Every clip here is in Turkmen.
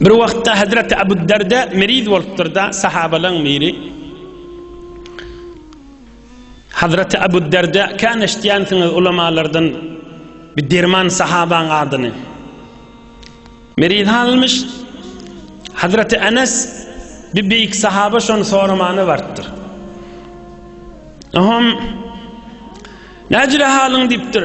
Bir wagtda Hazreti Abu Darda meriz bolupdyr-da, sahabalaň biri Hazreti Abu Darda kan eşitýänsiňiz ulamalardan bir derman sahabaň adyny. Meriz halmyş Hazreti Enes bir beýik sahaba şony soramana bardyr. Aham Näjire halyň diýipdir.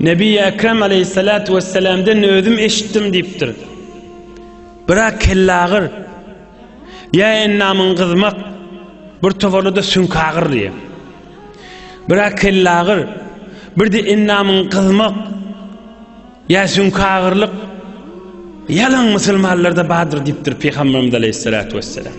Nebi-i Ekrem aleyhissalatu vesselamden özüm eşitdim diýipdir. Biraz kellagyr, ýa endamyň gyzmak, bir toparda-da süňkagyr diýip. Biraz kellagyr, birde endamyň gyzmak, ýa süňkagyrlyk ýalan musulmanlarda bardyr diýipdir Pygamberimiz aleyhissalatu vesselam.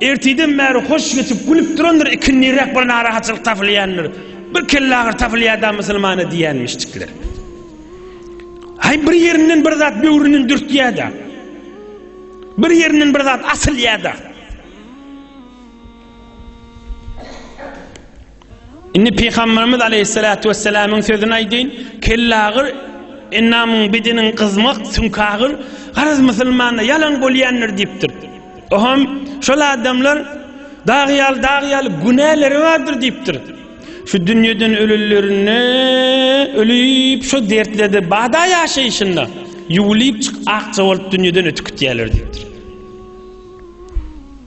Ertirden bäri hoş geçip, gülüp durandyr, ikindiräk bir narahatçylyk tapylýandyr. Bir kellagyry tapylýar-da musulmana diýýänmişjikler. Haý bir ýerinden bir zat böwründen dürtýär-de. Bir ýerinden bir zat asylýar-da. Indi Pygamberimiz Aleyhissalatu vesselamyň sözüni aýdyň, kellagyr ennamyň bidiniň gyzmak sünkagyr garaz musulmanda ýalan bolýandyr diýipdir. Oham şol adamlar dag ýaly dag ýaly günäleri bardyr diýipdir. Şu dünýeden ölülerine ölüp şu dertlerde bada ýaşaýşynda ýuwulyp çyk akja bolup dünýeden ötüp gitýärler diýipdir.